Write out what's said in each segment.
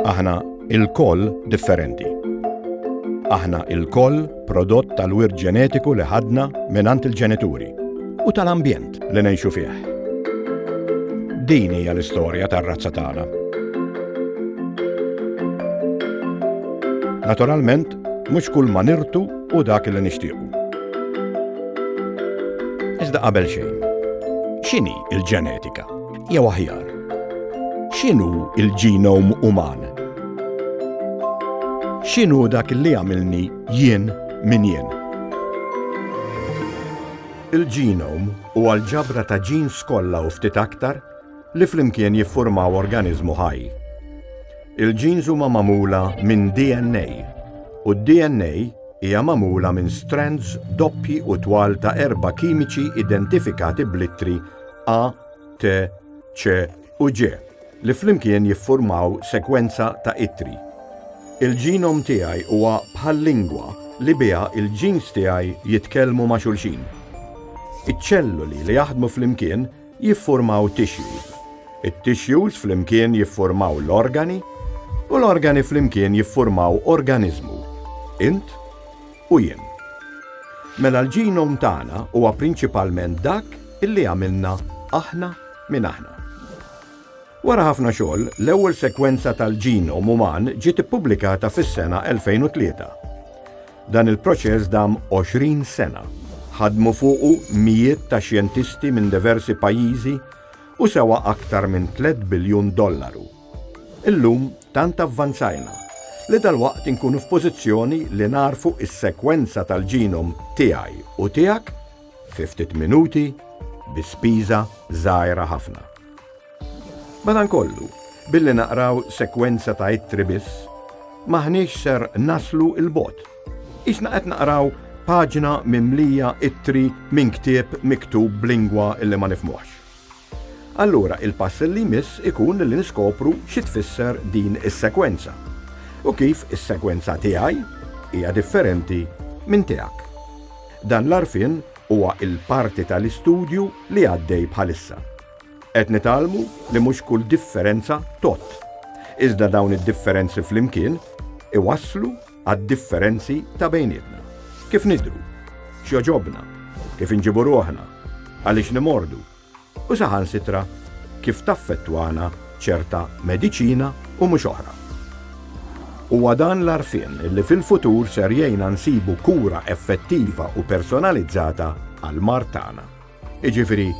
Aħna il-koll differenti. Aħna il-koll prodott tal-wirt ġenetiku li ħadna mingħand il-ġenituri u tal-ambjent li ngħixu fih. Din hija l-istorja tar-razza tagħna. Naturalment, Mhux kull ma nirtu hu dak li nixtiequ. Iżda qabel xejn, x'inhi l-ġenetika? Jew aħjar, x'inhu l-ġinom uman? X'inhu dak li jagħmilni jien min jien? Il-ġinom huwa l-ġabra ta' ġins kollha u ftit aktar li flimkien jiffurmaw organiżmu ħaj. Il-genes huma magħmula minn DNA u d-DNA hija magħmula minn strands doppji u twal ta' erba' kimiċi identifikati bl-ittri A, T, C u G li flimkien jiffurmaw sekwenza ta' ittri. Il-ġinom tiegħi huwa bħal lingwa li biha il-genes tiegħi jitkellmu ma' xulxin. Iċ-ċelluli li jaħdmu flimkien jiffurmaw tissues, it-tissues flimkien jiffurmaw l-organi u l-organi flimkien jiffurmaw organiżmu, int u jien. Mela l-genome tagħna huwa prinċipalment dak illi għamilna aħna minn aħna. Wara ħafna xogħol, l-ewwel sekwenza tal-genome uman ġiet ippubblikata fis-sena 2003. Dan il-proċess dam 20 sena. Ħadmu fuqu mijiet ta' xjentisti minn diversi pajjiżi u sewa aktar minn 3 biljun dollaru. Illum tant avvanzajna li dal-waqt inkunu f'pożizzjoni li narfu is-sekwenza tal-ġinom tiegħi u tiegħek fi ftit minuti bi spiża żgħira ħafna. Madankollu, billi naqraw sekwenza ta' ittri biss, m'aħniex ser naslu 'l bogħod. Qisna qed naqraw paġna mimlija ittri minn ktieb miktub b'lingwa li ma nifhmuhx. Allura il-pass li jmiss ikun li niskopru xi tfisser din is-sekwenza u kif is-sekwenza tiegħi hija differenti minn tiegħek. Dan l-għarfien huwa l-parti tal-istudju li għaddej bħalissa. Qed nitgħallmu li mhux kull differenza tgħodd, iżda dawn id-differenzi flimkien iwasslu għad-differenzi ta' bejnietna. Kif nidru, x'joġobna, kif inġibu ruħna, għaliex nimordu, u saħan sitra kif taffettwana ċerta mediċina u mhux oħra. Huwa dan l-arfin li fil-futur ser jgħinna nsibu kura effettiva u personalizzata għal martana. jiġifieri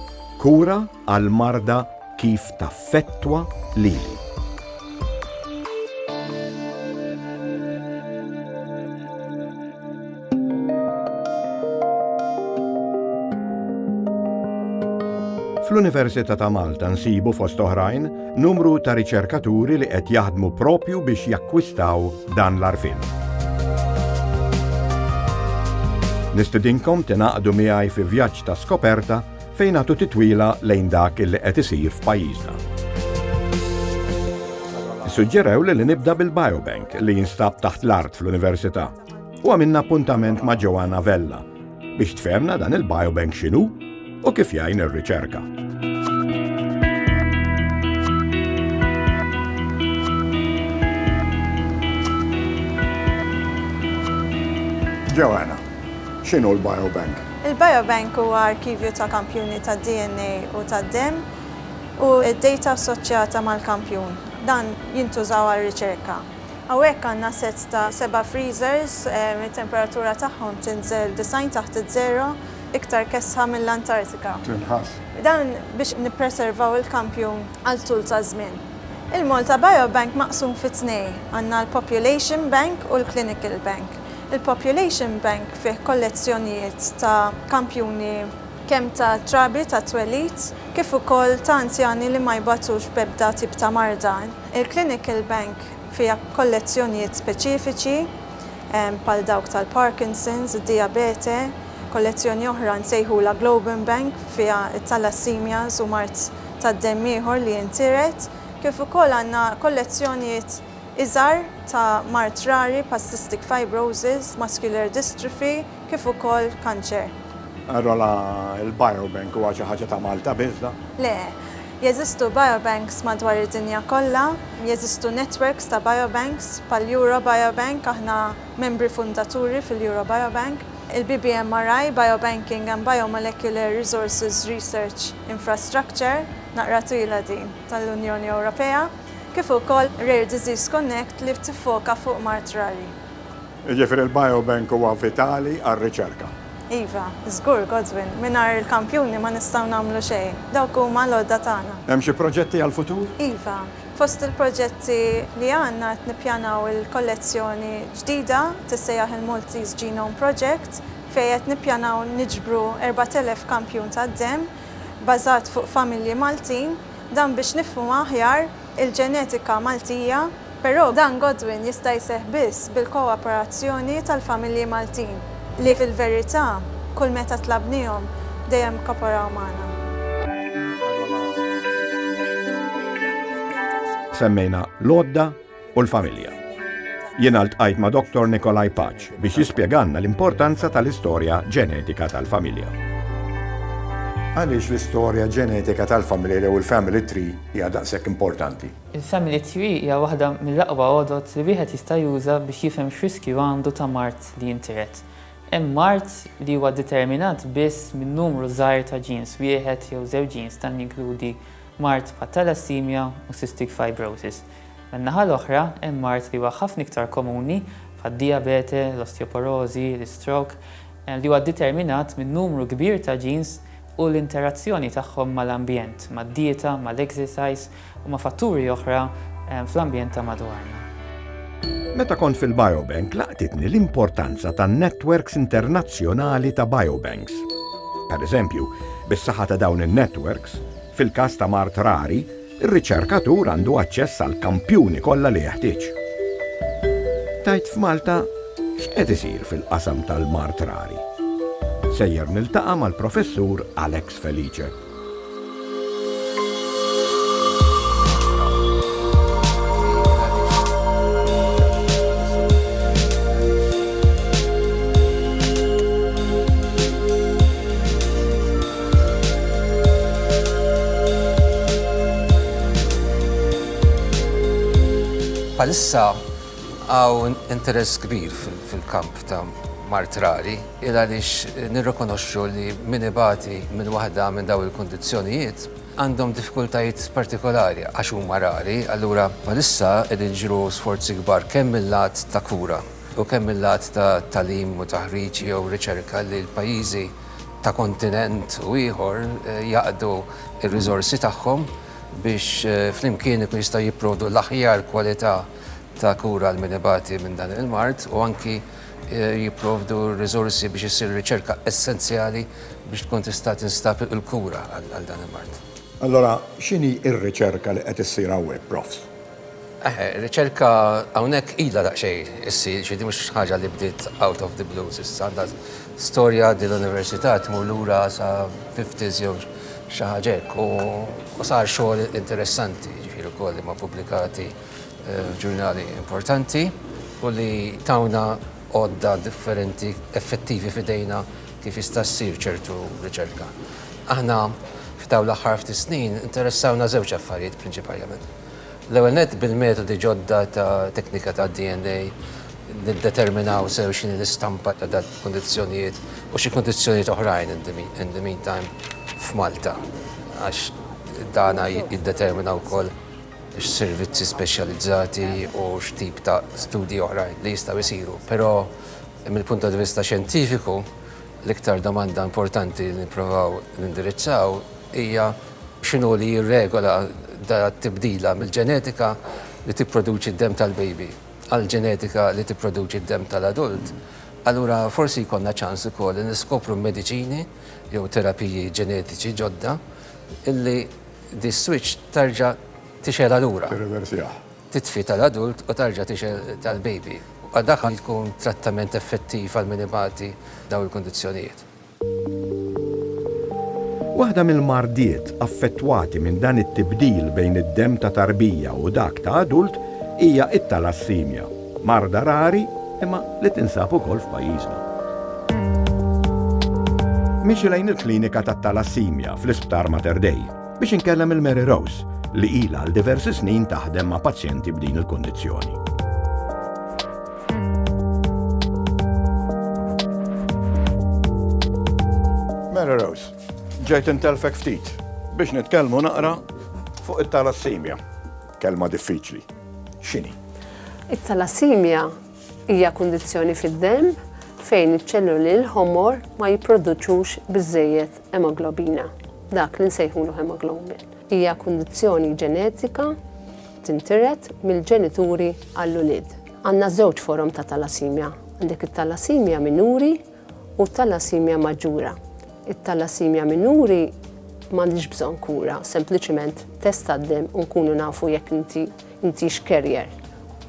kura għall-marda kif taffettwa lili. Fl-Università ta' Malta nsibu fost oħrajn Numru ta' riċerkaturi li qed jaħdmu proprju biex jakkwistaw dan l-għarfien. Nistidinkom tingħaqdu miegħi fi vjaġġ ta' skoperta fejn għatu titwila lejn dak li qed isir f'pajjiżna. Suġġerew li li nibda bil-Biobank li jinstab taħt l-art fl-Università u għamilna appuntament ma' Joanna Vella, biex tfehmna dan il-biobank x'inhu u kif jgħin ir-riċerka. Joanna, x'inhu l-biobank? Il-biobank huwa arkivju ta' kampjuni ta' DNA u ta' demm u d-dejta assoċjata mal-kampjun. Dan jintużaw għar-riċerka. Hawnhekk għandna sett ta' seba' freezers li t-temperatura tagħhom tinżel 90 taħt iż-żero, iktar kesħa mill-Antartika. Tinħass. Dan biex nippreservaw il-kampjun għal tul ta' żmien. Il-Malta Biobank maqsum fi tnejn, għandna l-Population Bank u l-Clinical Bank. Il-Population Bank fih kollezzjonijiet ta' kampjuni kemm ta' trabi tat-twelid kif ukoll ta' anzjani li ma jbatux b'ebda tip ta' marda. Il-Clinical Bank fiha kollezzjonijiet speċifiċi bħal dawk tal-Parkinson's, id-dijabete, kollezzjoni oħra nsejħulha Globen Bank fiha t-thalassaemias u mard tad-demm ieħor li jintiret, kif ukoll għandna kollezzjonijiet iżgħar ta' mard rari bħaċystic fibrosis, muscular dystrophy, kif ukoll kanċer. Arrola, il-biobank huwa xi ħaġa ta' Malta biss dan? Le. Jeżistu biobanks madwar id-dinja kollha, jeżistu networks ta' biobanks bħall-Eurobiobank, aħna membri fundaturi fil-Eurobiobank. Il-BBMRI, Biobanking and Biomolecular Resources Research Infrastructure, naqra twila din, tal-Unjoni Ewropea, kif ukoll Rare Disease Connect li tiffoka fuq mard rari. Jiġifieri l-biobank huwa vitali għar-riċerka. Iva, żgur, Godwin. Mingħajr il-kampjuni ma nistgħu nagħmlu xejn. Dawk huma l-għodda tagħna. Hemm xi proġetti għall-futur? Iva. Fost il-proġetti li għandna qed nippjanaw il-kollezzjoni ġdida, tissejjaħ il-Maltese Genome Project, fejn qed nippjanaw niġbru 4,000 kampjun tad-demm bażat fuq familji Maltin, dan biex nifhmu aħjar il-ġenetika Maltija, però dan Godwin jista' jseħħ biss bil-kooperazzjoni tal-familji Maltin li fil-verità kull meta tlabnihom dejjem kkoporaw magħna. Semmejna l-għodda u l-familja. Jiena ltqajt ma' Dottor Nikolai Paċ biex jispjegalna l-importanza tal-istorja ġenetika tal-familja. Għaliex l-istorja ġenetika tal-familja jew il-family tree hija daqshekk importanti. Il-Family Tree hija waħda mill-aqwa għodod li wieħed jista' juża biex jifhem x'riskju għandu ta' mard li jintiret. Hemm mard li huwa ddeterminat biss minn numru żgħir ta' ġins, wieħed jew żewġ ġins, dan jinkludi mard bħat-thalassaemia u cystic fibrosis. Min-naħa l-oħra, hemm mard li huwa ħafna iktar komuni, bħad-dijabete, l-osteoporożi, l-istroke, li huwa ddeterminat minn numru kbir ta' ġins, u l-interazzjoni tagħhom mal-ambjent, mad-dieta, mal-exercise u ma' fatturi oħra fl-ambjent ta' madwarna. Meta kont fil-Biobank laqtitni l-importanza tan-netwerks internazzjonali ta' biobanks. Pereżempju, bis-saħħa ta' dawn in-netwerks, fil-każ ta' mard rari, Ir-riċerkatur għandu aċċess għall-kampjuni kollha li jeħtieġ. Tgħid f'Malta x'qed isir fil-qasam tal-mard rari? Sejjer niltaqa' mal-Professur Alex Felice. Bħalissa hawn interess kbir fil-kamp ta' mard rari il għaliex nirrikonoxxu li min ibati minn waħda minn dawn il-kundizzjonijiet għandhom diffikultajiet partikolari għax huma rari, allura bħalissa qegħdin jiġru sforzi kbar kemm mil-lat ta' kura u kemm mil-lat ta' tagħlim u taħriġ jew riċerka li l-pajjiżi ta' kontinent u ieħor jaqdu r-riżorsi tagħhom biex flimkien ikunu jistgħu jipprovdu l-aħjar kwalità ta' kura għal min ibati minn dan il-mard u anki jipprovdu r-riżorsi biex issir ir-riċerka essenzjali biex tkun tista' tinstab il-kura għal dan il-mard. Allura x'inhi r-riċerka li qed issir hawnhekk, Profs? Eħe, riċerka hawnhekk ilha daqsxejn issir, ġifieri din mhux ħaġa li bdiet out of the blue s'issa, għandha storja din l-università tmur lura sa fifties jew xi ħaġa hekk u sar xogħol interessanti, ġifieri wkoll li ma' pubblikati f'ġurnali importanti u li tawna għodda differenti effettivi f'idejna kif jista' ssir ċertu riċerka. Aħna f'dawn l-aħħar ftit snin interessawna żewġ affarijiet prinċipaliment. L-ewwel nett, bil-metodi ġodda ta' teknika tad-DNA niddeterminaw sew x'inhi l-istampa ta' dawk il-kundizzjonijiet u xi kundizzjonijiet oħrajn in the in the meantime f'Malta għax dan jiddetermina wkoll x'servizzi speċjalizzati u x'tip ta' studji oħrajn li jistgħu jsiru. Però mill-punt ta' vista xjentifiku l-iktar domanda importanti li nipprovaw nindirizzaw hija x'inhu li jirregola t-tibdila mill-ġenetika li tipproduċi d-demm tal-baby għall-ġenetika li tipproduċi d-demm tal-adult, allura forsi jkollna ċans ukoll li niskopru mediċini jew terapiji ġenetiċi ġodda li dis-switch terġa' tixgħelha lura, titfi tal-adult u terġa' tixgħel tal-baby. Dak jkun trattament effettiv għal min ibati dawn il-kundizzjonijiet. Waħda mill-mardiet affettwati minn dan it-tibdil bejn id-demm ta' tarbija u dak ta' adult hija t-talassimja, marda rari imma li tinsab ukoll f'pajjiżna. Miexi lejn il-klinika tat-talassimja fl-Isptar Mater Dei biex inkellem lil Mary Rose li ilha għal diversi snin taħdem ma' pazjenti b'din il-kundizzjoni. Mela Rose, ġejt intelfek ftit biex nitkellmu naqra fuq it-talassimja. Kelma diffiċli. X'inhi? It-talassimja hija kundizzjoni fid-demm fejn iċ-ċelluli l-ħomor ma jipproduċux biżejjed emoglobina, dak li nsejħulu hemoglobin. Hija kundizzjoni ġenetika tintiret mill-ġenituri għall-ulied. Għandna żewġ forom ta' talasimja, għandek it-talasimja minuri u t-talasimja maġġura. It-talasimja minuri m'għandhiex bżonn kura, sempliċiment test tad-demm u nkunu nafu jekk inti intix carrier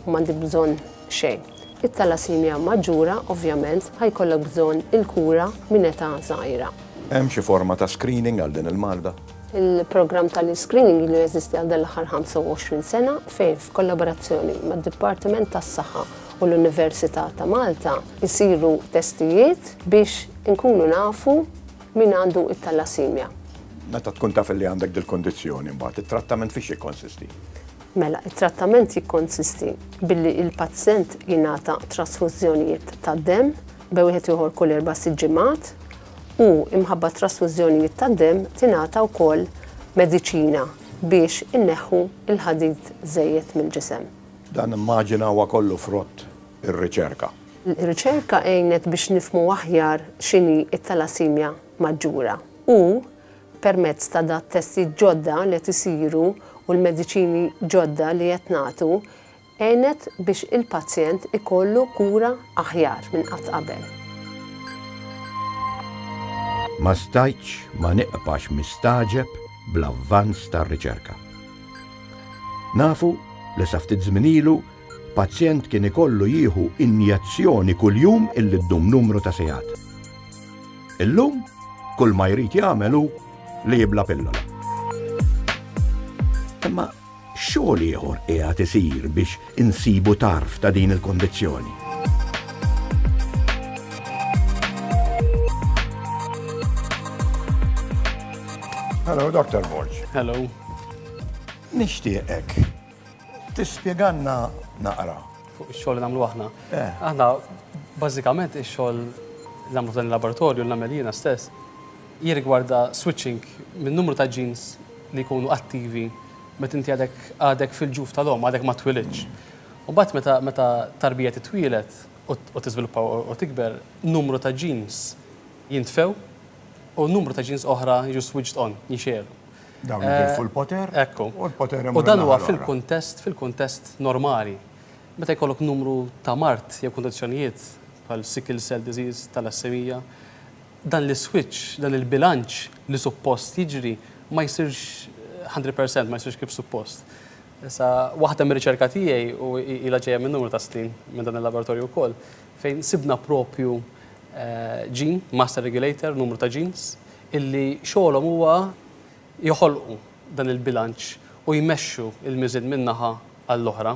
u m'għandek bżonn xejn. It-thalassemia maġġura ovvjament ħa jkollok bżonn il-kura minn età żgħira. Hemm xi forma ta' screening għal din il-marda? Il-programm tal-iscreening ilu jeżisti għal dan l-aħħar 25 sena fejn f'kollaborazzjoni mad-Dipartiment tas-Saħħa u l-Università ta' Malta jsiru testijiet biex inkunu nafu min għandu t-thalassemia. Meta tkun taf li għandek dil-kundizzjoni mbagħad it-trattament fiex jikkonsisti? Mela, it-trattament jikkonsisti billi l-pazjent jingħata trasfużjonijiet tad-demm bejn wieħed u ieħor kull erba' sitt ġimgħat u imħabba t-trasfużjonijiet tad-demm tingħata wkoll mediċina biex inneħħu l-ħadid żejjed mill-ġisem. Dan immaġina huwa kollu frott ir-riċerka. Ir-riċerka għinet biex nifhmu aħjar x'inhi t-talassemia maġġura u Permezz ta' dat-testijiet ġodda li qed isiru u l-mediċini ġodda li qed nagħtu, għenet biex il-pazjent ikollu kura aħjar minn qatt qabel. Ma stajtx ma nibqax mistagħġeb bl-avvanz tar-riċerka. Nafu li sa ftit żmien ilu Pazjent kien ikollu jieħu injezzjoni kuljum illi ddum numru ta' sigħat. Illum, kull ma jrid jagħmel hu li jibla pillola. Imma xogħol ieħor qiegħed isir biex insibu tarf ta' din il-kondizzjoni. Hello, Dr. Borg. Hello. Nishtiqek Tispjegalna naqra. Fuq ix-xogħol li nagħmlu aħna. Aħna bażikament ix-xogħol li nagħmlu f'dan il-laboratorju li nagħmel jiena stess jirrigwarda switching minn numru ta' genes li jkunu attivi meta inti għadek għadek fil-ġuf tal-omm, għadek ma twilidtx. U mbagħad meta meta tarbija titwieled u tiżviluppa u tikber, numru ta' genes jintfew u numru ta' genes oħra jiġu switched on, jinxegħelu. Dawn li tilfu l-poter. Ekku. U l-poter hemm. U dan huwa fil-kuntest, fil-kuntest normali. Meta jkollok numru ta' mard jew kundizzjonijiet bħal sickle cell disease, thalassemia, dan l-iswitch, dan il-bilanċ li suppost jiġri ma jsirx hundred percent, ma jsirx kif suppost. Issa waħda mir-riċerka tiegħi u ilha ġejja minn numru ta' snin minn dan il-laboratorju wkoll fejn sibna propju ġin, master regulator, numru ta' ġins, illi xogħolhom huwa joħolqu dan il-bilanċ u jmexxu l-miżien minn naħa għall-oħra.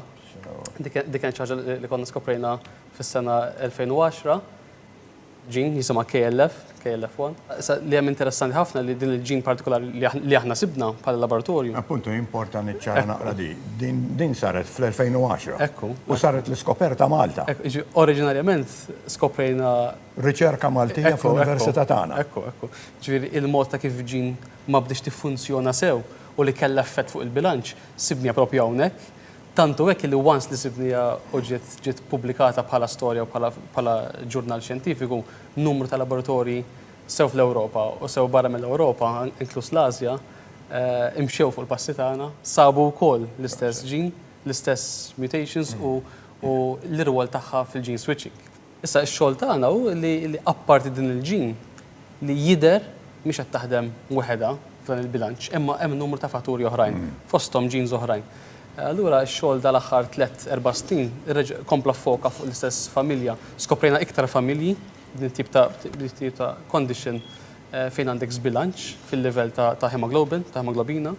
Dik kienet xi ħaġa li konna skoprejna fis-sena 2010. Ġin jisimha KLF, KLF1. Issa li hemm interessanti ħafna li din il-ġin partikolari li aħna sibna bħala laboratorju. Appuntu jimporta niċċara naqra di. Din saret fl-2010. Ekku. U saret l-iskoperta Malta. Oriġinarjament skoprejna riċerka Maltija fl-Università tagħna. Ekku, ekku. Ġifieri il-mod ta' kif Jean ma bdietx tiffunzjona sew u li kellha effett fuq il-bilanċ, sibniha proprju hawnhekk. Tant hu hekk li once li sibniha u ġiet ġiet ppubblikata bħala storja u bħala bħala ġurnal xjentifiku, numru ta' laboratorji sew fl-Ewropa u sew barra mill-Ewropa, inkluż l-Asja, imxew fuq il-passi tagħna, sabu wkoll l-istess Jean, l-istess mutations u u l-irwol tagħha fil-gene switching. Issa x-xogħol tagħna hu li apparti din il-gene li jidher mhix qed taħdem weħedha f'dan il-bilanċ imma hemm numru ta' fatturi oħrajn fosthom genes oħrajn. Allura x-xogħol dal-aħħar tliet erba' snin kompla ffoka fuq l-istess familja. Skoprejna iktar familji b'din it-tip ta' b'din it-tip ta' condition fejn għandek żbilanċ fil-livell ta' hemoglobin, ta' hemoglobina.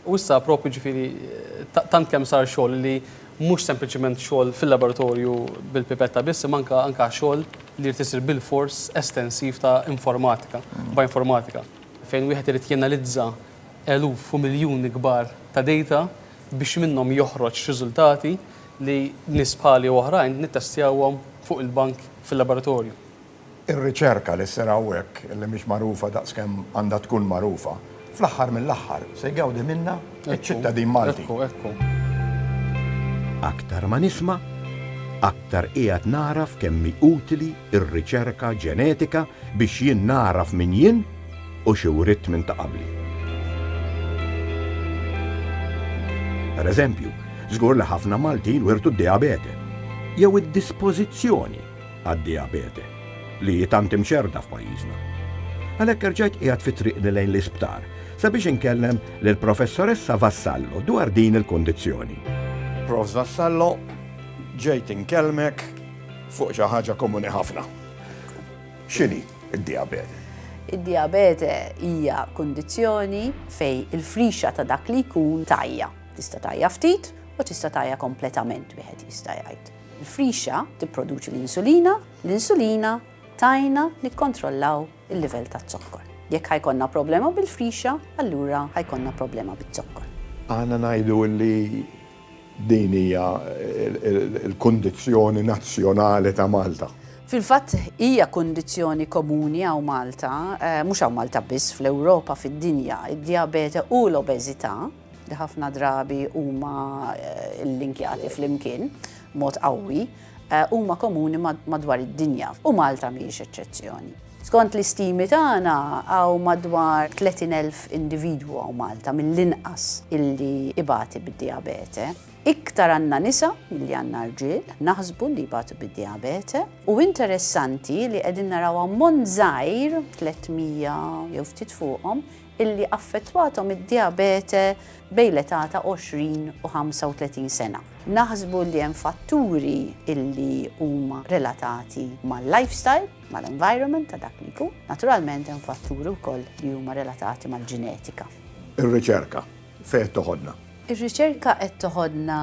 U issa propju ġifieri tant kemm sar xogħol li mhux sempliċiment xogħol fil-laboratorju bil-pipetta biss imma anke anke xogħol li jrid isir bilfors estensiv ta' informatika, bioinformatika, fejn wieħed irid jenalizza eluf u miljuni kbar ta' data biex minnhom joħroġ riżultati li nies bħali u oħrajn nittestjawhom fuq il-bank fil-laboratorju. Ir-riċerka li ssir hawnhekk, li mhix magħrufa daqskemm għandha tkun magħrufa, fl-aħħar mill-aħħar se jgawdi minnha ċ-ċittadin Malti. Ekku, ekku, ekku. Aktar ma nisma', aktar qiegħed nagħraf kemm hi utili r-riċerka ġenetika biex jien nagħraf min jien u xi writt minn ta' qabli. Per eżempju, żgur li ħafna Maltin wirtu d-dijabete, jew id-dispożizzjoni għad-dijabete, li hi tant imxerrda f'pajjiżna. Għalhekk erġajt qiegħed fi triqni lejn l-isptar sabiex inkellem lill-Professoressa Vassallo dwar din il-kundizzjoni. Profs Vassallo, ġejt inkellmek fuq xi ħaġa komuni ħafna. X'inhi d-dijabete? Id-dijabete hija kundizzjoni fejn il-frixa ta' dak li jkun tgħajja. Tista' tgħajja ftit u tista' tgħajja kompletament wieħed jista' jgħid. Il-frixa tipproduċi l-insulina, l-insulina tgħinna nikkontrollaw il-livell taz-zokkor. Jekk ħa jkollna problema bil-frixa, allura ħa jkollna problema biz-zokkor. Aħna ngħidu li din hija l-kundizzjoni nazzjonali ta' Malta. Fil-fatt hija kundizzjoni komuni hawn Malta, mhux hawn Malta biss, fl-Ewropa, fid-dinja, id-dijabete u l-obeżità. li ħafna drabi huma llinkjati flimkien b'mod qawwi, huma komuni madwar id-dinja, u Malta mhijiex eċċezzjoni. Skont l-istimi tagħna, hawn madwar 30,000 individwu hawn Malta mill-inqas illi ibati bid-dijabete. Iktar għandna nisa milli għandna rġiel, naħsbu, li jbatu bid-dijabete, u interessanti li qegħdin naraw ammont żgħir, 300 jew ftit fuqhom, illi affettwathom id-dijabete bejn l-età ta' 20 u 35 sena. Naħsbu li hemm fatturi illi huma relatati mal-lifestyle, mal-environment ta' dak li jkun. Naturalment hemm fatturi wkoll li huma relatati mal-ġenetika. Ir-riċerka. Fejn qed toħodna? Ir-riċerka qed toħodna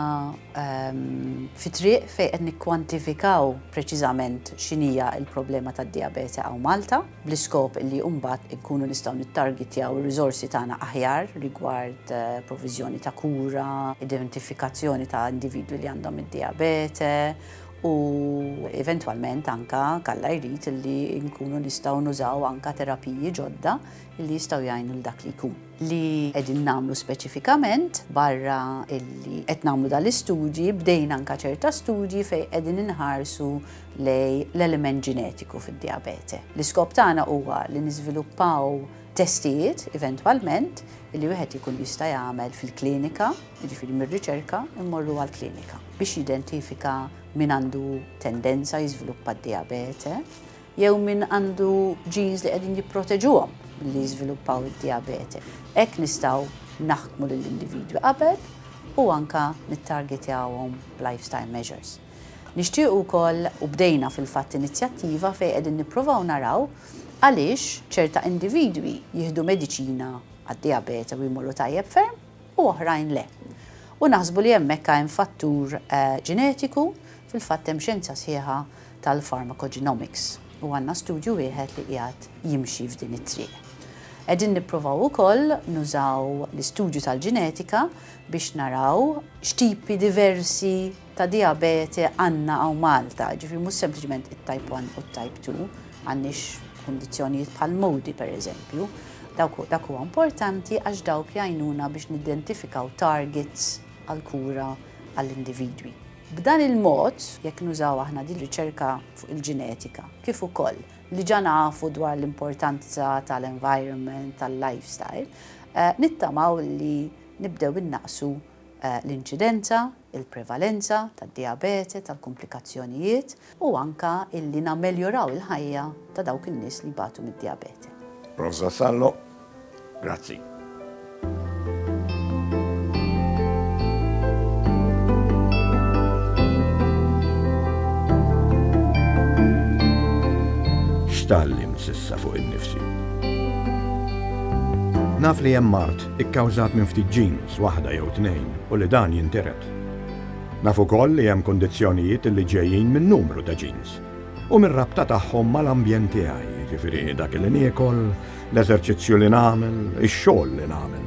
fi triq fejn qed nikkwantifikaw preċiżament x'inhija l-problema tad-dijabete hawn Malta, bl-iskop li mbagħad inkunu nistgħu nittargitjaw ir-riżorsi tagħna aħjar rigward proviżjoni ta' kura, identifikazzjoni ta' individwi li għandhom id-dijabete u eventwalment anke kalla jrid li nkunu nistgħu nużaw anke terapiji ġodda li jistgħu jgħinu lil dak li jkun. li qegħdin nagħmlu speċifikament barra illi qed nagħmlu dan l-istudji, bdejna anke ċerta studji fejn qegħdin inħarsu lejn l-element ġenetiku fid-dijabete. L-iskop tagħna huwa li niżviluppaw testijiet eventwalment li wieħed ikun jista' jagħmel fil-klinika, jiġifieri mir-riċerka mmorru għall-klinika biex jidentifika min għandu tendenza jiżviluppa d-dijabete jew min għandu genes li qegħdin jipproteġuhom milli jiżviluppaw id-dijabete. Hekk nistgħu naħkmu lill-individwi qabel u anke nittargetjawhom b'lifestyle measures. Nixtiequ wkoll, u bdejna fil-fatt inizjattiva fejn qegħdin nippruvaw naraw għaliex ċerta individwi jieħdu mediċina għad-dijabete u jmorru tajjeb ferm, u oħrajn le. U naħsbu li hemmhekk hemm fattur ġenetiku, fil-fatt hemm xjenza sħiħa tal-pharmacogenomics u għandna studju wieħed li qiegħed jimxi f'din it-triq. Qegħdin nipprovaw ukoll nużaw l-istudju tal-ġenetika biex naraw x'tipi diversi ta' dijabete għandna hawn Malta, jiġifieri mhux sempliċement it-type 1 u t-type 2, m'għandniex kundizzjonijiet bħal MODY pereżempju. Dawk dak huwa importanti għax dawk jgħinuna biex nidentifikaw targets għall-kura għall-individwi. B'dan il-mod, jekk nużaw aħna din riċerka fuq il-ġenetika, kif ukoll li ġa nafu dwar l-importanza tal-environment, tal-lifestyle, nittamaw li nibdew innaqqsu l-inċidenza, il-prevalenza tad-dijabete, tal-kumplikazzjonijiet u anke illi nammeljoraw il-ħajja ta' dawk in-nies li jbatu mid-dijabete. Prof. Vassallo, grazzi. X'tgħallimt s'issa fuq innifsi? Naf li hemm mard ikkawżat minn ftit ġins waħda jew tnejn u li dan jintiret. Naf ukoll li hemm kundizzjonijiet li ġejjin minn numru ta' ġins u mir-rabta tagħhom mal-ambjent tiegħi, jiġifieri dak li niekol, l-eżerċizzju li nagħmel, ix-xogħol li nagħmel.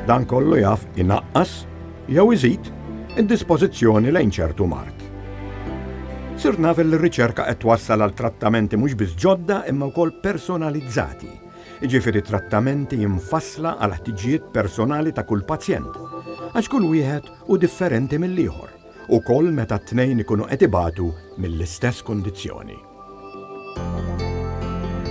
Dan kollu jaf inaqqas jew iżid id-dispożizzjoni lejn ċertu mard. Sirt naf li r-riċerka qed twassal għal trattamenti mhux biss ġodda imma wkoll personalizzati jiġifieri trattamenti mfassla għall-ħtiġijiet personali ta' kull pazjent, għax kull wieħed hu differenti mill-ieħor, ukoll meta t-tnejn ikunu qed ibatu mill-istess kundizzjoni.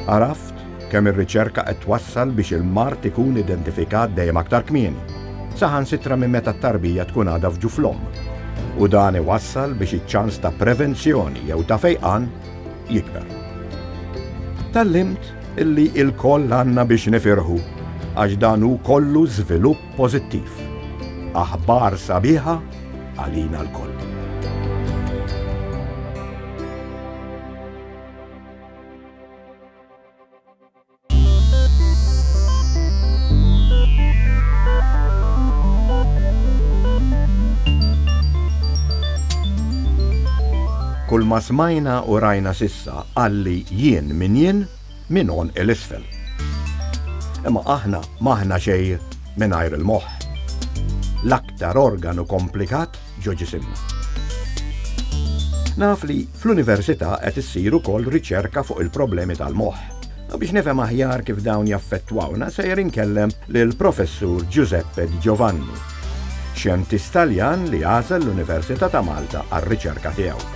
Għaraft kemm ir-riċerka qed twassal biex il-mard ikun identifikat dejjem aktar kmieni, saħansitra minn meta t-tarbija tkun għadha f'ġuf l-omm, u dan iwassal biex iċ-ċans ta' prevenzjoni jew ta' fejqan jikber. Tgħallimt Illi ilkoll għandna biex nifirħu għax dan hu kollu żvilupp pożittiv. Aħbar sabiħa għalina lkoll. Kull ma smajna u rajna s'issa, Sa qalli jien min jien minn għonq 'il isfel. Imma aħna m'aħna xej mingħajr il-moħħ. L-aktar organu komplikat ġo ġisimna. Naf li fl-università qed issir ukoll riċerka fuq il-problemi tal-moħħ. U biex nifhem aħjar kif dawn jaffettwawna sejjer inkellem lill-Professur Giuseppe Di Giovanni, xjentist Taljan li għażel l-Università ta' Malta għar-riċerka tiegħu.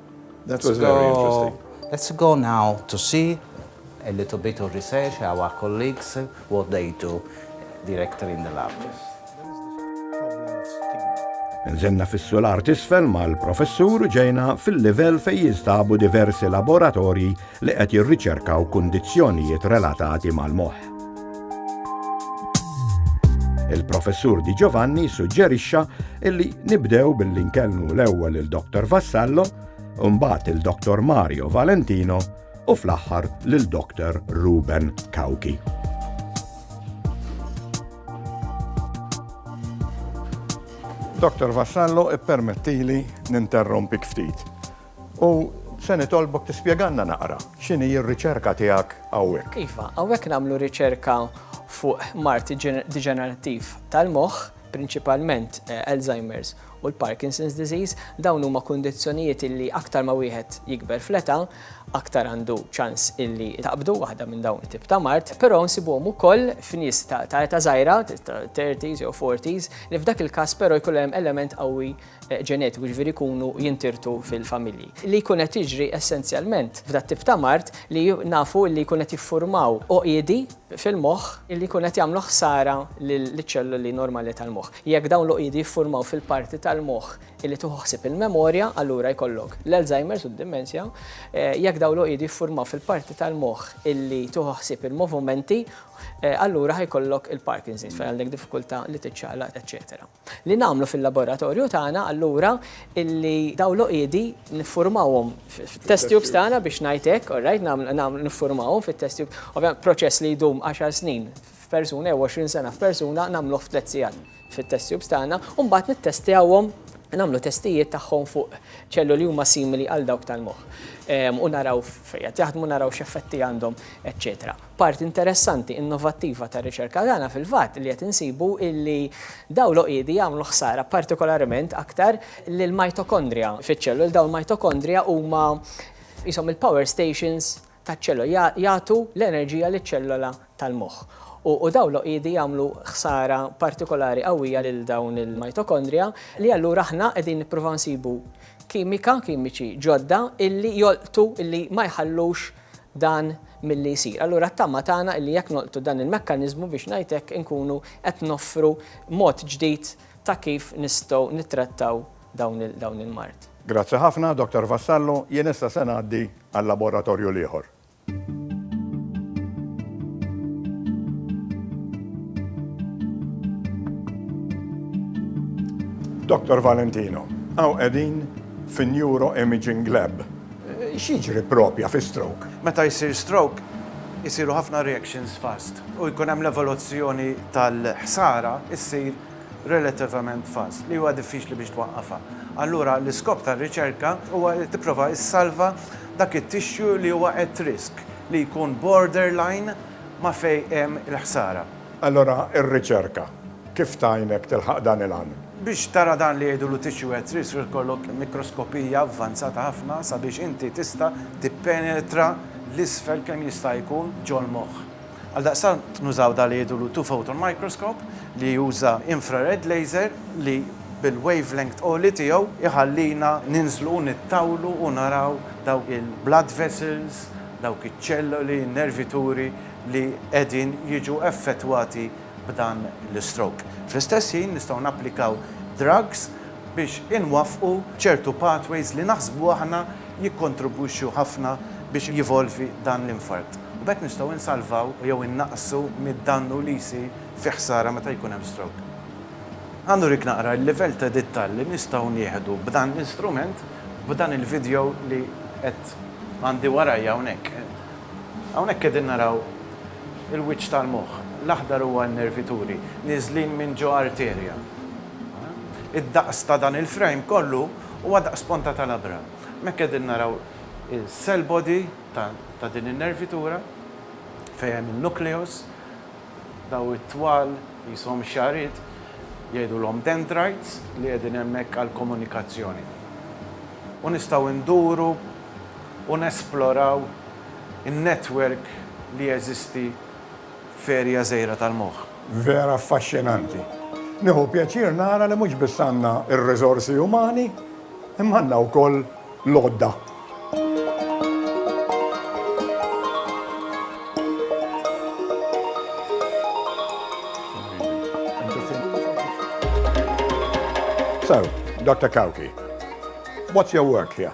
That was very interesting. Let's go now to see a little bit of research, our colleagues, what they do directly in the lab. Nżenna fis-sular tisfel mal-professur ġejna fil-livell fej jinstabu diversi laboratorji li qed jirriċerkaw kundizzjonijiet relatati mal-moħħ. Il-professur Di Giovanni suġġerixxa illi nibdew billi nkellmu l-ewwel il-Dr. Vassallo, mbagħad il-Dr. Mario Valentino u fl-aħħar lil Dr. Ruben Kauki. Dr. Vassallo ippermettili ninterrompik ftit. U se nitolbok tispjegalna naqra x'inhi r-riċerka tiegħek hawnhekk. Iva, hawnhekk nagħmlu riċerka fuq mard diġenerattiv tal-moħħ, prinċipalment Alzheimer's u l-Parkinson's disease. Dawn huma kundizzjonijiet illi aktar ma wieħed jikber fl-età, aktar għandu ċans illi taqbdu waħda minn dawn it-tip ta' mard, però nsibuhom ukoll f'nies ta' età żgħira, 30s jew 40s, li f'dak il-każ però jkun hemm element qawwi ġenetiku, jiġifieri jkunu jintirtu fil-familji. Li jkun qed jiġri essenzjalment f'dat-tip ta' mard li nafu li jkun qed jiffurmaw għoqiedi fil-moħħ li jkun qed jagħmlu ħsara liċ-ċelloli normali tal-moħħ. Jekk dawn l-għoqiedi jiffurmaw fil-parti tal-moħħ li tieħu ħsieb il-memorja, allura jkollok l-Alzheimer's u d-dimensja. Jekk dawn l-għoqiedi jiffurmaw fil-parti tal-moħħ li tieħu ħsieb il-movumenti, allura ħa jkollok il-Parkinson's fejn għandek diffikultà li tiċċaqlaq, eċċetera. Li nagħmlu fil-laboratorju tagħna allura illi dawn l-għoqiedi niffurmawhom fit-test tubes tagħna biex ngħid hekk, all right, nagħmlu niffurmawhom fit-test tube. Ovvjament proċess li jdum għaxar snin f'persuna jew għoxrin sena f'persuna nagħmluh f'tliet sigħat fit-test tubes tagħna u mbagħad nittestjawhom, nagħmlu testijiet tagħhom fuq ċelloli li huma simili għal dawk tal-moħħ u naraw fejn qed jaħdmu, naraw x'effetti għandhom, eċċetera. Parti interessanti, innovattiva tar-riċerka tagħna fil-fatt li qed insibu illi dawn l-għoqiedi jagħmlu ħsara partikolarment aktar lill-mitochondria fiċ-ċelloli. Dawn il-mitochondria huma qishom il-power stations taċ-ċellola, jagħtu l-enerġija liċ-ċellola tal-moħħ. U dawn l-għoqiedi jagħmlu ħsara partikolari qawwija lil dawn il-mitochondria li allura aħna qegħdin nippruvaw nsibu kimika, kimiċi ġodda illi jolqtu, illi ma jħallux, dan milli jsir. Allura t-tama tagħna illi jekk nolqtu dan il-mekkaniżmu biex ngħid hekk inkunu qed noffru mod ġdid ta' kif nistgħu nittrattaw dawn il-mard. Grazzi ħafna, Dottor Vassallo. Jien issa se ngħaddi għal-laboratorju l-ieħor. Dottor Valentino, hawn qegħdin fin-Neuroimaging Lab. X'jiġri proprja fi stroke? Meta jsir stroke, isiru ħafna reactions fast u jkun hemm l-evoluzzjoni tal-ħsara ssir relativament fast, li huwa diffiċli biex twaqqafha. Allura l-iskop tar-riċerka huwa li tipprova ssalva dak it-tissue li huwa at risk, li jkun borderline ma' fejn hemm il-ħsara. Allura r-riċerka kif tgħinek tilħaq dan il-għan? Biex tara dan li jgħidulu tissue head trid li jkollok mikroskopija avvanzata ħafna sabiex inti tista' tippenetra l-isfel kemm jista' jkun ġol-moħħ. Għaldaqstant nużaw dak li jgħidulu two photon microscope li juża infrared laser li bil-wavelength għoli tiegħu jħallina ninżlu u nittawlu u naraw dawk il-blood vessels, dawk iċ-ċelloli, in-nervituri, li qegħdin jiġu effettwati b'dan l-istroke. Fl-istess ħin nistgħu napplikaw drugs biex inwaffqu ċertu pathways li naħsbu aħna jikkontribwixxu ħafna biex jevolvi dan l-infarkt. U b'hekk nistgħu insalvaw jew innaqqsu mid-dannu li jsir fi ħsara meta jkun hemm stroke. Ħa nurik naqra l-livell ta' dittal li nistgħu nieħdu b'dan l-instrument b'dan il-video li qed għandi warajja hawnhekk. Hawnhekk qegħdin naraw il-wiċċ tal-moħħ. L-aħdar huwa n-nervituri nieżlin minn ġo arterja. Id-daqs ta' dan il-frame kollu huwa daqs ponta ta' labra. Hemmhekk qegħdin naraw il-cell body ta' din in-nervitura fejn hemm in-nucleus. Dawn it-twal qishom xagħriet, jgħidulhom dendrites, li qegħdin hemmhekk għall-komunikazzjoni. U nistgħu nduru u nesploraw in-netwerk li jeżisti f'erja żgħira tal-moħħ. Vera affaxxinanti. Nieħu pjaċir nara li mhux biss għandna r-riżorsi umani, imma għandna wkoll l-għodda. Dr. Cauchi, what's your work here?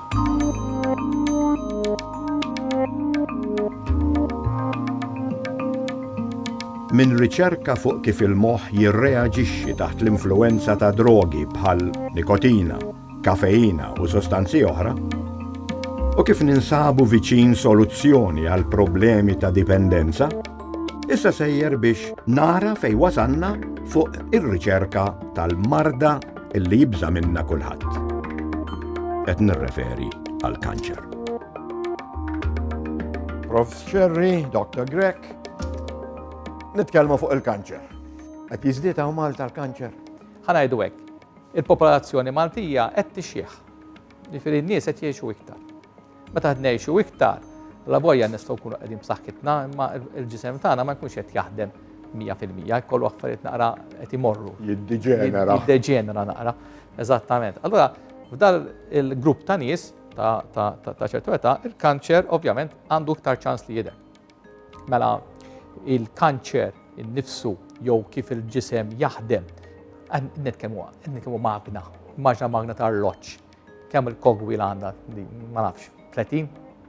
Minn riċerka fuq kif il-moħħ jirreaġixxi taħt l-influwenza ta' drogi bħal nikotina, kafeina u sostanzi oħra, u kif ninsabu viċin soluzzjoni għal problemi ta' dipendenza, issa sejjer biex nara fej wasanna fuq ir-riċerka tal-marda illi jibża' minnha kulħadd. Qed nirreferi għall-kanċer. Prof. Sherry, Dr. Grek, nitkellmu fuq il-kanċer. Qed jiżdied hawn Malta l-kanċer? Ħanajdu hekk, il-popolazzjoni Maltija qed tixjieħ. Jifieri n-nies qed jgħixu iktar. Meta ngħixu iktar, la vojja nistgħu nkunu qegħdin b'saħħitna, imma l-ġisem tagħna ma jkunx qed jaħdem 100%, jkollu affarijiet naqra qed imorru. Jiddeġenera. Jiddeġenera naqra, eżattament. Allura, f'dal il-grupp ta' nies ta' ċertu età, il-kanċer ovvjament għandu iktar ċans li jidher. Mela, il-kanċer innifsu jew kif il-ġisem jaħdem, netkemm huwa, netkemm magna, maġna magna ta' arloġġ Kemm il-kogwila għandha di ma nafx 30,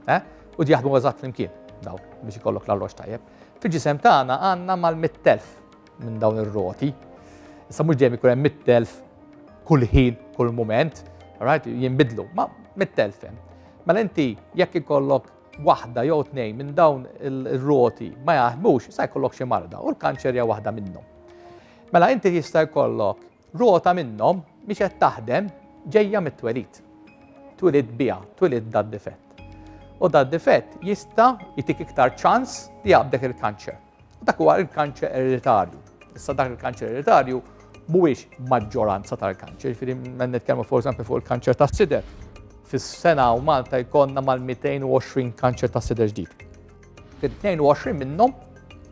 eh? U di jaħdmu eżatt flimkien daw biex ikollok l-arroġ tajjeb. Fil-ġisem tagħna għandna mal-100,000 minn dawn ir-roti. Issa mhux dejjem ikun hemm 100,000 kull ħin, kull mument, right? Jinbidlu, ma 100,000 hemm. Mela inti jekk ikollok waħda jew tnejn minn dawn ir-roti ma jaħdmux, sa jkollok xi marda u l-kanċer hija waħda minnhom. Mela inti jista' jkollok Rota minnhom mhix qed taħdem ġejja mit-twelid. Twilidt biha, twilidt dad-difett. U dad-difett jista' jtik iktar ċans li jaqbdek il-kanċer. U dak huwa il-kanċer ereditarju. Issa dak il-kanċer ereditarju mhuwiex maġġoranza tal-kanċer, jiġifieri minn nitkellmu for eżempju fuq il-kanċer tas-sider. Fis-sena u Malta jkollna mal-220 kanċer tas-sider ġdid. Fil-22 minnhom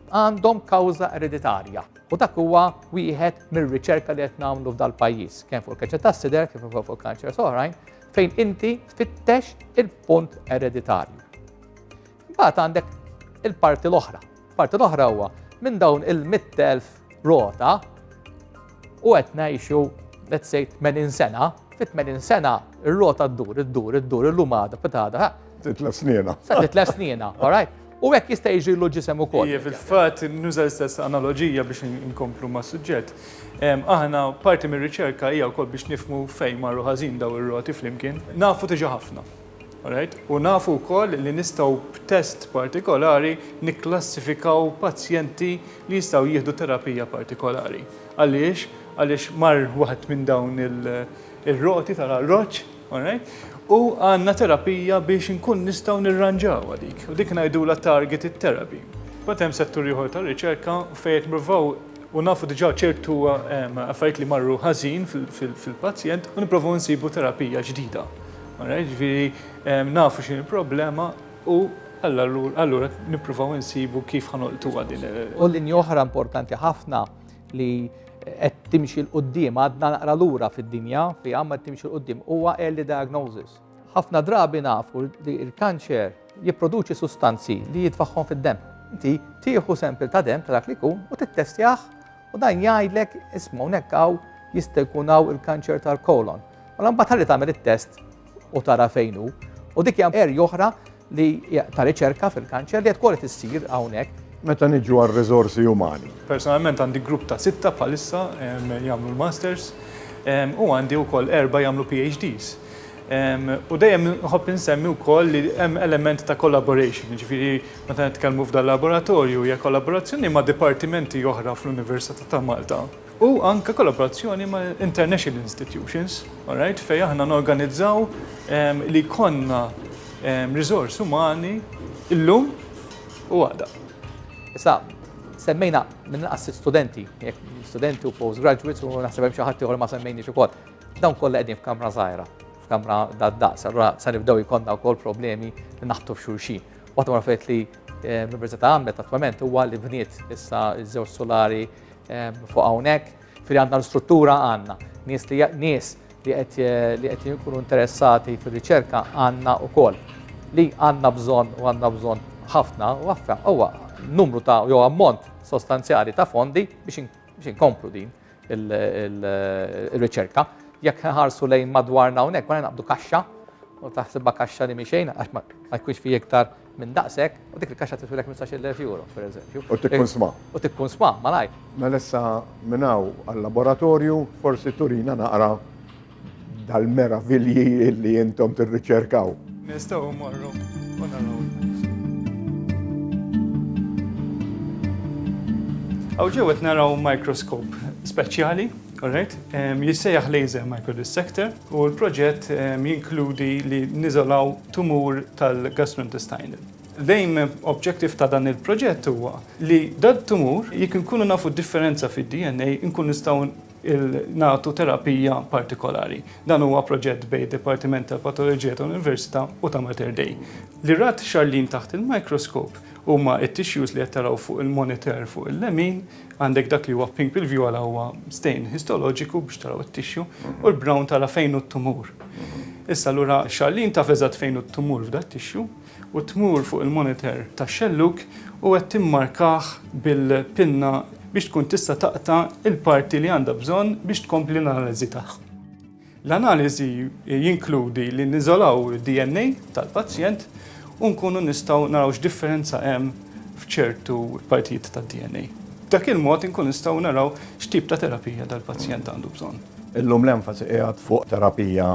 għandhom kawża ereditarja. U dak huwa wieħed mir-riċerka li qed nagħmlu f'dal-pajjiż, kemm fuq il-kanċer tas-sider kif ukoll fuq kanċers oħrajn, fejn inti tfittex il-punt ereditarju. Imbagħad għandek il-parti l-oħra. Parti l-oħra huwa minn dawn il-100,000 rota u qed ngħixu let's say 80 sena, fit 80 sena ir-rota ddur, iddur, iddur, illum għada, pitada. Titlef snina. Sa titlef snina, all right? U hekk jista' jiġri l ġisem ukoll. Iva, fil-fatt nuża l-istess analoġija biex inkomplu ma' suġġett. Aħna parti mir-riċerka hija wkoll biex nifmu fejn marru ħażin daw ir-roti flimkien. Nafu diġà ħafna. U nafu wkoll li nistgħu b'test partikolari nikklassifikaw pazjenti li jistgħu jieħdu terapija partikolari. Għaliex? Għaliex mar waħed minn dawn ir-roti tal-arroġġ U għandna terapija biex inkun nistgħu nirranġawha dik. U dik ngħidulha targeted therapy. Mbagħad hemm settur ieħor tar-riċerka fejn qed nippruvaw u nafu diġà ċertu affarijiet li marru ħażin fil-pazjent u nipprovaw insibu terapija ġdida. Jiġifieri nafu x'inhi l-problema u allura nippruvaw insibu kif ħa nolqtuha din. U linja oħra importanti ħafna li qed timxi l-qoddim, għadna naqra lura fid-dinja fi għamma qed timxi l-qoddim, huwa early diagnosis. Ħafna drabi nafu li l-kanċer jipproduċi sustanzi li jitfaħħom fid-dem. Inti tieħu sempil ta' dem ta' dak li kun u tittestjah u dan jgħidlek ismu nekkaw jista' jkun hawn il-kanċer tal-kolon. U mela mbagħad ħalli tagħmel it-test u tara fejn hu. U dik hija erja oħra li ta' riċerka fil-kanċer li qed kol tissir hawnhekk. Meta niġu għal riżorsi umani. Personalment għandi grupp ta' sitta bħalissa jagħmlu l-masters u għandi wkoll erba' jagħmlu PhDs. U dejjem nħobb insemmi wkoll li hemm element ta' collaboration, jiġifieri meta nitkellmu f'dal-laboratorju hija kollaborazzjoni ma' dipartimenti oħra fl-Università ta' Malta. u anke kollaborazzjoni ma' international institutions, all right, fejn aħna norganizzaw li jkollna riżorsi umani llum u għada. Issa, semmejna mill-inqas sitt studenti, studenti u postgraduates u naħseb hemm xi ħadd ieħor ma semmejniex ukoll. Dawn kollha qegħdin f'kamra żgħira, f'kamra dad-daqs, allura se nibdew jkollna wkoll problemi li naħbtu f'xulxin. Waħda ma fejt li l-Università għamlet attwament huwa li bniet issa ż-żewġ sulari Fuq hawnhekk, fil għandna l-struttura għandna nies li nies li qed jkunu interessati fir-riċerka għandna wkoll li għandna bżonn u għandna bżonn ħafna u għaffa huwa numru ta' jew ammont sostanzjali ta' fondi biex inkomplu din il-riċerka. Jekk ħarsu lejn madwarna hawnhekk ma naqbdu kaxxa u taħsibha kaxxa li miexejn għax ma jkunx fi iktar minn daqshekk, u dik il-kaxxa tifilek minn tnax-il elf euro, pereżempju. U tikkunsma. U tikkunsma, malajr. Mela issa minn hawn għal-laboratorju, forsi turina naqra dal-meravilji li intom tirriċerkaw. Nistgħu mmorru u naraw. Hawn ġewwa qed naraw microscope speċjali. All right. Jissejjaħ Laser Microdissector u l-proġett jinkludi li niżolaw tumur tal-gastrointestinal. L-aim objective ta' dan il-proġett huwa li dal-tumur jekk inkunu nafu d-differenza fid-DNA nkunu nistgħu nagħtu terapija partikolari. Dan huwa proġett bejn id-Dipartiment tal-Patoloġija tal-Università u ta' Mater Dei. Li rat Charlene taħt il-microscope huma t-tissues li qed taraw fuq il-monitor fuq il-lemin Għandek dak li huwa pink bil-vjola huwa stain histoloġiku biex taraw it-tixju u l-brown tara fejn hu t-tumur. Issa allura Charlene taf eżatt fejn hu t-tumur f'dat-tixju u tmur fuq il-monitor tax-xellug u qed timmarkah bil-pinna biex tkun tista' taqta' il-parti li għandha bżonn biex tkompli l-analiżi tagħha. L-analiżi jinkludi li niżolaw id-DNA tal-pazjent u nkunu nistgħu naraw x'differenza hemm f'ċertu partijiet tad-DNA. B'dak il-mod inkunu nistgħu naraw x'tip ta' terapija dal-pazjent għandu bżonn. Illum l-enfasi qiegħed fuq terapija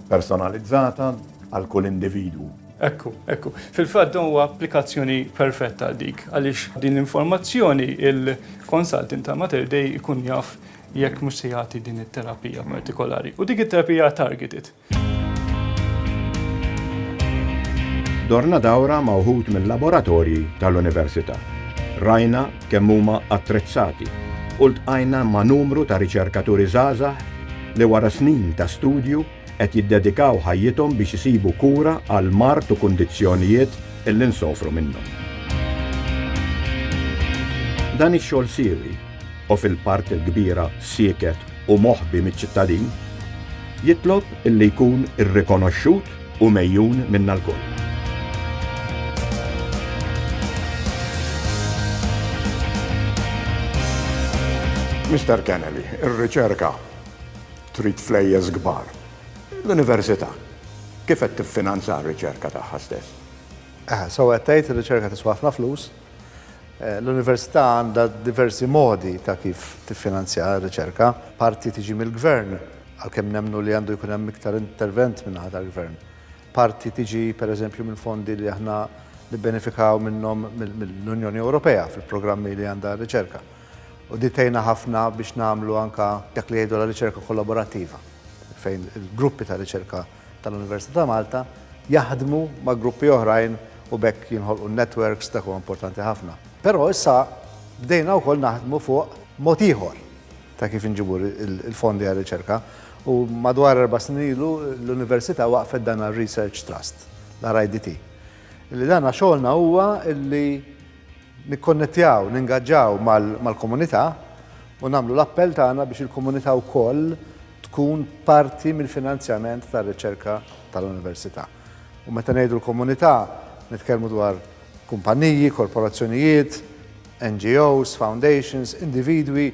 personalizzata għal kull individwu. Ekku, ekku. Fil-fatt dan huwa applikazzjoni perfetta għal dik, għaliex b'din l-informazzjoni il-consultant ta' Mater Dei jkun jaf jekk mhux se jagħti din it-terapija partikolari. U dik it-terapija targeted. Dorna dawra ma' wħud mill-laboratorji tal-Università. Rajna kemm huma attrezzati u ltqajna ma' numru ta' riċerkaturi żgħażagħ li wara snin ta' studju qed jiddedikaw ħajjithom biex isibu kura għal mard u kundizzjonijiet li nsofru minnhom. Dan ix-xogħol siewi u fil-parti l-kbira sieket u moħbi miċ-ċittadin, jitlob illi jkun irrikonoxxut u megħjun minna lkoll. Mister Kennelly, ir-riċerka trid flejjes kbar. L-Università kif qed tiffinanza r-riċerka tagħha stess? Aha, sewwa qed tgħid, ir-riċerka tiswa ħafna flus. L-Università għandha diversi modi ta' kif tiffinanzja r-riċerka. Parti tiġi mill-Gvern, għalkemm nemmnu li għandu jkun hemm iktar intervent min-naħa tal-Gvern. Parti tiġi, pereżempju, minn fondi li aħna nibbenefikaw minnhom mill-Unjoni Ewropea fil-programmi li għandha r-riċerka. U din tgħinna ħafna biex nagħmlu anke dak li jgħidu l-riċerka kollaborattiva, fejn il-gruppi ta' riċerka tal-Università ta' Malta jaħdmu ma' gruppi oħrajn u b'hekk jinħolqu networks dak huwa importanti ħafna. Però issa bdejna wkoll naħdmu fuq mod ieħor ta' kif inġibu l-fondi għar-riċerka u madwar erba' snin ilu l-Università waqfet dan ir-Research Trust, l-RIDT. Li dan xogħolna huwa li nikkonnettjaw, ningaġġaw mal-komunità u nagħmlu l-appell tagħna biex il-komunità wkoll tkun parti mill-finanzjament tar-riċerka tal-Università. U meta ngħidu l-komunità, nitkellmu dwar kumpanniji, korporazzjonijiet, NGOs, foundations, individwi,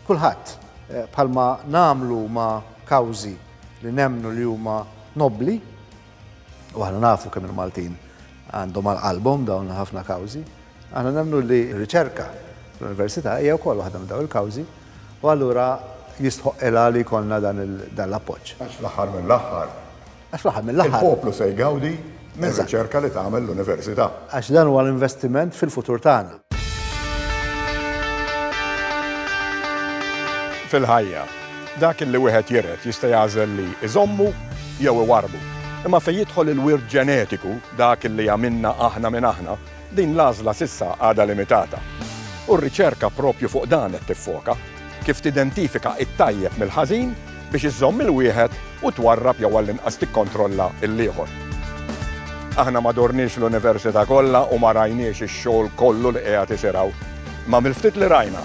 kulħadd. Bħalma nagħmlu ma' kawżi li nemmnu li huma nobbli, u aħna nafu kemm il-Maltin għandhom għal qalbhom dawn ħafna kawżi, Aħna nemmnu li r-riċerka fl-Università hija wkoll waħda minn dawn il-kawżi u allura jistħoqqilha li jkollna dan l-appoġġ. Għax fl-aħħar mill-aħħar. Għax fl-aħħar mill-aħħar. Il-poplu se jgawdi mir-riċerka li tagħmel l-Università. Għax dan huwa l-investiment fil-futur tagħna. Fil-ħajja, dak li wieħed jiret jista' jagħżel li jżommu jew iwarrbu. Imma fejn jidħol il-wirt ġenetiku, dak li għamilna aħna minn aħna, Din l-għażla s'issa għadha limitata u r-riċerka proprju fuq dan qed tiffoka, kif tidentifika t-tajjeb mill-ħażin biex iżżomm il-wieħed u twarrab jew għall-inqas tikkontrolla l-ieħor. Aħna ma dorniex l-Università kollha u ma rajniex ix-xogħol kollu li qiegħed isir hawn, imma mill-ftit li rajna,